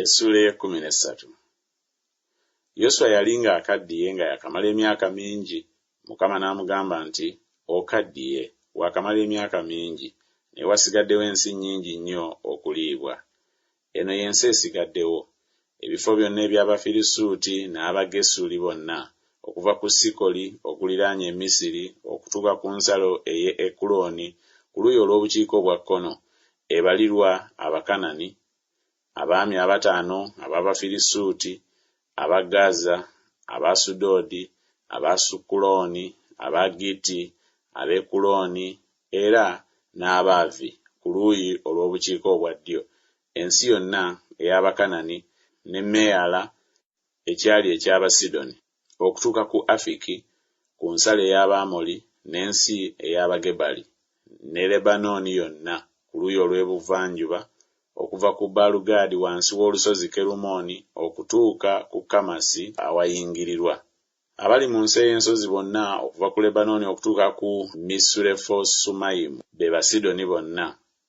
Essuula ey'ekkumi n'essatu. Yoswa yali ng'akaddiye nga yakamala emyaka mingi, Mukama n'amugamba nti, Okaddiye, waakamala emyaka mingi, naye wasigaddewo ensi nnyingi nnyo okuliibwa. Eno y'ensi esigaddewo, ebifo byonna eby'Abafirisuuti n'Abagesuli bonna, okuva ku Sikoli okuliraanye e Misiri okutuuka ku nsalo ey'e Ekuloni ku luuyi olw'obukiika obwa kkono, ebalirwa Abakanani, abaami abataano ab'Abafirisuuti, aba Gaza, Abaasudoodi, Abaasukulooni, Abagitti, Abeekulooni, era n'Abaavi ku luuyi olw'obukiika obwa ddyo, ensi yonna ey'Abakanani, ne Meyaala, ekyali eky'Abasidoni, okutuuka ku Afiki ku nsalo ey'Abaamoli, n'ensi ey'Abagebali, ne Lebanooni yonna ku luuyi olw'ebuvanjuba, okuva ku Baalugaadi wansi w'olusozi Kerumooni okutuuka ku Kamasi awayingirirwa. Abali mu nsi ey'ensozi bonna okuva ku Lebanooni okutuuka ku Misurefosumayimu, be Basidoni bonna,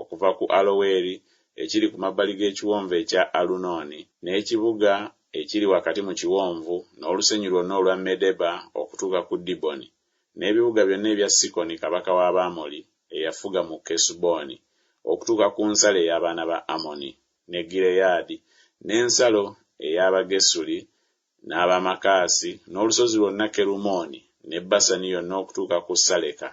okuva ku Aloweri ekiri ku mabbali g'ekiwonvu ekya Alunooni, n'ekibuga ekiri wakati mu kiwonvu, n'olusenyi lwonna olwa Medeba okutuuka ku Diboni, n'ebibuga byonna ebya Sikoni kabaka w'Abaamori eyafuga mu Kesuboni, okutuuka ku nsalo ey'abaana ba Amoni, ne Gireyaadi, n'ensalo ey'Abagesuli N'aba Makaasi, n'olusozi lwonna Kerumooni, ne Basani yonna okutuuka ku Saleka,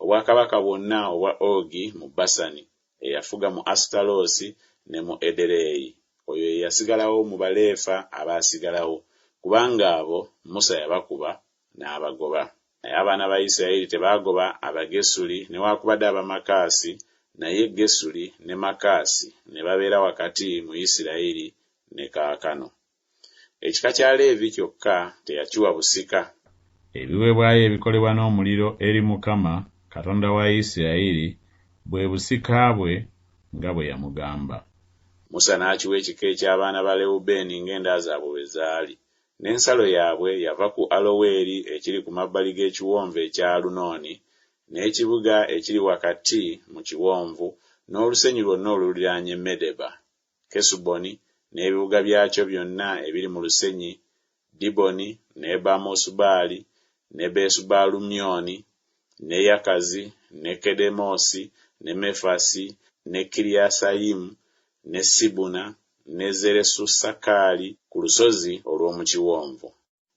obwakabaka bwonna obwa Ogi mu Basani, eyafuga mu Asutaloosi ne mu Edereyi, oyo ye yasigalawo mu Baleefa abaasigalawo, kubanga abo Musa yabakuba n'abagoba. Naye abaana ba Isirayiri tebaagoba Abagesuli newakubadde Abamakaasi, naye Gesuli ne Makaasi ne babeera wakati mu Isirayiri ne kaakano. Ekika kya Leevi kyokka teyakiwa busika. Ebiweebwayo ebikolebwa n'omuliro eri Mukama, Katonda wa Isirayiri, bwe busika bwe, nga bwe yamugamba. Musa n'akiwa ekika eky'abaana ba Lewubeeni ng'enda zaabwe bwe zaali. N'ensalo yaabwe yava ku Aloweri ekiri ku mabbali g'ekiwonvu ekya Alunooni, n'ekibuga ekiri wakati mu kiwonvu, n'olusenyi lwonna oluliraanye Medeba. Kesuboni n'ebibuga byakyo byonna ebiri mu lusenyi, Diboni, ne Bamosubaali, ne Besubaalumyoni, ne Yakazi, ne Kedemosi, ne Mefasi, ne Kiriyasayimu, ne Sibuna, ne Zeresusakaali ku lusozi olw'omu kiwonvu.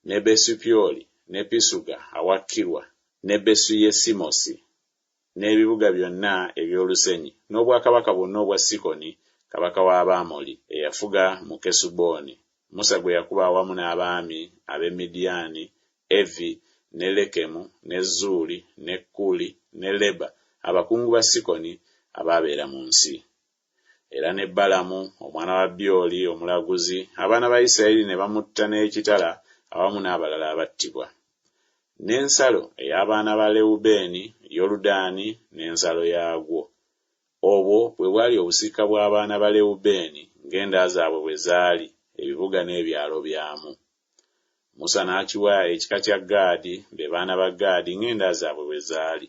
ne Besupyoli, ne Pisuga awa Kirwa, ne Besu-yesimosi, n'ebibuga byonna eby'olusenyi, n'obwakabaka bwonna obwa Sikoni kabaka w'Abaamoli, eyafuga mu Kesuboni, Musa gwe yakuba awamu n'abaami ab'e Midiyaani, Evi, ne Lekemu, ne Zuuri, ne Kuli, ne Leba, abakungu ba Sikoni abaabeera mu nsi. era ne Balamu omwana wa Byoli omulaguzi, abaana ba Isirayiri ne bamutta n'ekitala awamu n'abalala abattibwa. N'ensalo ey'abaana ba Lewubeeni, Yoludaani n'ensalo yaagwo. Obwo bwe bwali obusika bw'abaana ba Lewubeeni ng'enda zaabwe bwe zaali, ebibuga n'ebyalo byamu. Musa n'akiwa ekika kya Gaadi, be baana ba Gaadi ng'enda zaabwe bwe zaali.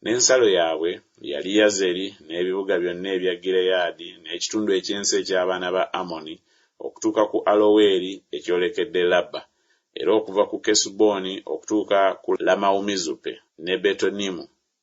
N'ensalo yaabwe yali Yazeri n'ebibuga byonna ebya Gireyaadi n'ekitundu eky'ensi eky'abaana ba Amoni okutuuka ku Aloweri ekyolekedde Labba, era okuva ku Kesuboni okutuuka ku Lamawumizupe ne Betonimu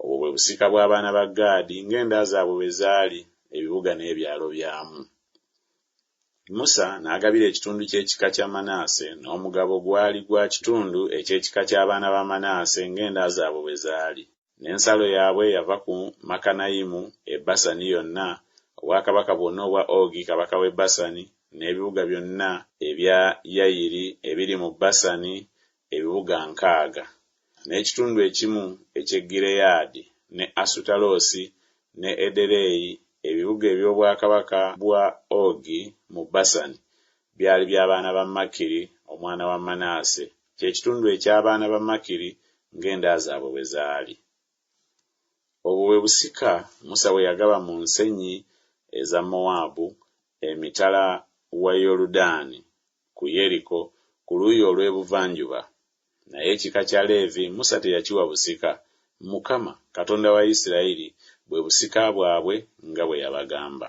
Obwo bwe busika bw'abaana ba Gaadi ng'enda zaabwe bwe zaali, ebibuga n'ebyalo byamu. Musa n'agabira ekitundu ky'ekika kya Manaase, n'omugabo gwali gwa kitundu eky'ekika ky'abaana ba Manaase ng'enda zaabwe bwe zaali. N'ensalo yaabwe yava ku Makanayimu e Basani yonna, obwakabaka bwonna obwa Ogi kabaka w'e Basani, n'ebibuga byonna ebya Yayiri ebiri mu Basani, ebibuga nkaaga, n'ekitundu ekimu eky'e Gireyaadi, ne Asutaloosi, ne Edereyi, ebibuga eby'obwakabaka bwa Ogi mu Basani, byali bya baana ba Makiri omwana wa Manaase, kye kitundu eky'abaana ba Makiri ng'enda zaabwe bwe zaali. Obwo bwe busika Musa bwe yagaba mu nsenyi eza Mowaabu emitala wa Yoludaani ku Yeriko ku luuyi olw'ebuvanjuba. Naye ekika kya Leevi Musa teyakiwa busika, Mukama, Katonda wa Isirayiri bwe busika bwabwe nga bwe yabagamba.